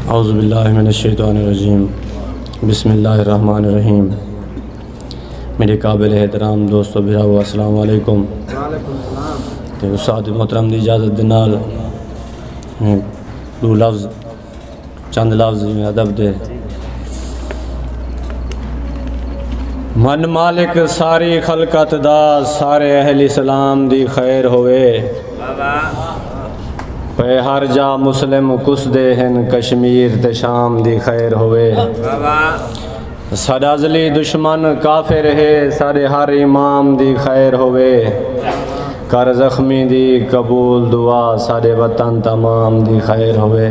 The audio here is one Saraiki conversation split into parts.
اعوذ باللہ من الشیطان الرجیم بسم اللہ الرحمن الرحیم میرے قابل احترام دوست و بھراو السلام علیکم تے استاد محترم دی اجازت دے نال میں دو لفظ چند لفظ میں ادب دے من مالک ساری خلقت دا سارے اہل اسلام دی خیر ہوئے اے ہر جا مسلم کس دے ہن کشمیر تے شام دی خیر ہوئے ساڈا زلی دشمن کافر ہے ساڈے ہر امام دی خیر ہوئے کر زخمی دی قبول دعا ساڈے وطن تمام دی خیر ہوئے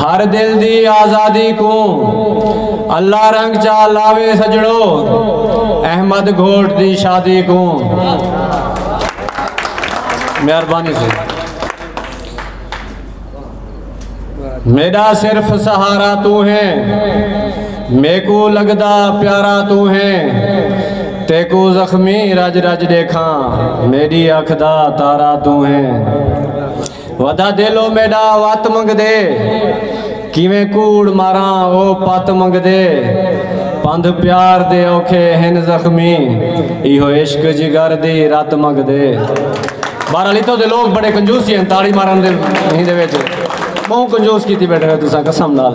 ہر دل دی آزادی کوں اللہ رنگ چا لاوے سجڑو احمد گھوٹ دی شادی کوں مہربانی سے میرا صرف سہارا تو ہے میکو لگدا پیارا تو ہے تیکو زخمی رج رج دیکھاں میری اکھ دا تارا تو ہے ودا دل او میڈا وت منگدے کیویں کوڑ ماراں او پت منگدے پندھ پیار دے اوکھے ہن زخمی ایہو عشق جگر دی رت منگدے بارہ لیتو دے لوگ بڑے کنجوسی ہیں تاڑی مارن دے ہی دے ویچے بہوں کنجوس کیتی بیٹھے ہیں تسا قسم نال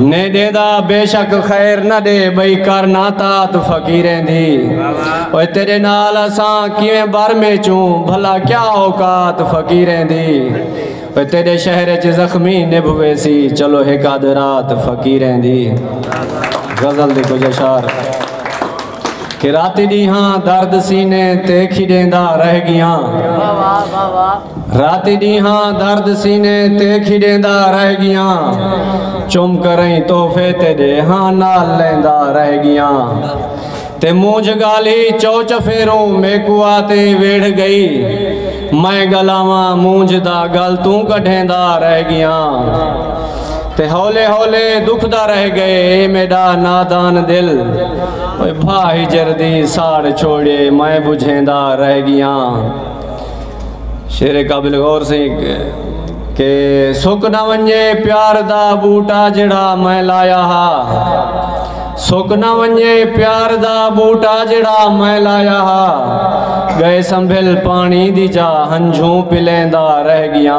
نے ڈیندا بے شک خیر نہ دے بھئی کر نہ تات فقیریں دی اوے تیرے نال اساں کیویں بر میں چوں بھلا کیا اوقات فقیریں دی اوے تیرے شہر چ زخمی نبھوے سی چلو ایک آدھ رات فقیریں دی غزل دی کچھ اشعار کہ راتی ڈیہاں درد سینے تے کھیڈیندا رہ گیاں راتی ڈیہاں درد سینے تے کھیڈیندا رہ گیاں چم کریں تحفے تے ڈیہاں نال لیندا رہ گیاں تے مونجھ گالی چو چفیروں میکو آتے ویڑھ گئی میں گلاواں مونجھ دا گل توں کڈھیندا رہ گیاں تے ہولے ہولے دکھدا رہ گئے اے میڈا نادان دل اوے بھا ہجر دی ساڑ چھوڑے میں بجھیندا رہ گیا شیر قابل غور سے کہ سک نہ ونجے پیار دا بوٹا جڑا میں لایا ہا سک نہ ونجے پیار دا بوٹا جڑا میں لایا ہا گئے سنبھل پانی دی جا ہنجھوں پلیندا رہ گیا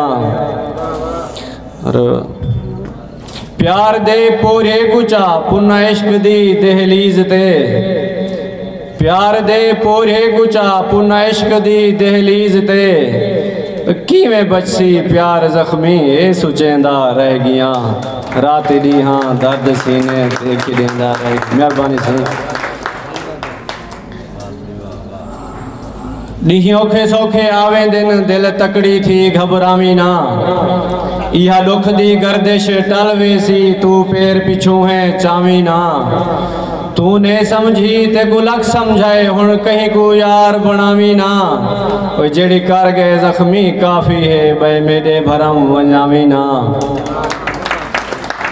پیار دے پورے گچا پن عشق دی دہلیز تے پیار دے پورے گچا پن عشق دی دہلیز تے کیویں بچسی پیار زخمی اے سچیندا رہ گیاں رات دی ہاں درد سینے دیکھ دیندا رہ گیاں مہربانی سنیں ڈینہہ اوکھے سوکھے آویں دن دل تکڑی تھی گھبراویں نہ ایہا ڈکھ دی گردش ٹل ویسی تو پیر پچھوں ہے چاویں نہ تو نے سمجھی تے کو لکھ سمجھائے ہن کہیں کو یار بناویں نہ او جڑی کر گئے زخمی کافی ہے بے میڈے بھرم ونجاویں نہ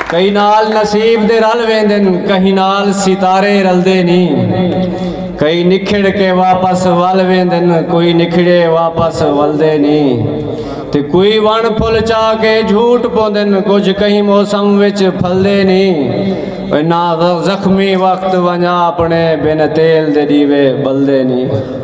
کہیں نال نصیب دے رل ویندن کہیں نال ستارے رلدے نہیں کئی نکھڑ کے واپس ول ویندن کوئی نکھڑے واپس ولدے نہیں تے کوئی ون پھل چا کے جھوٹ پوندن کچھ کہیں موسم وچ پھلدے نہیں نہ زخمی وقت ونجا اپنے بن تیل دے دیوے بلدے نہیں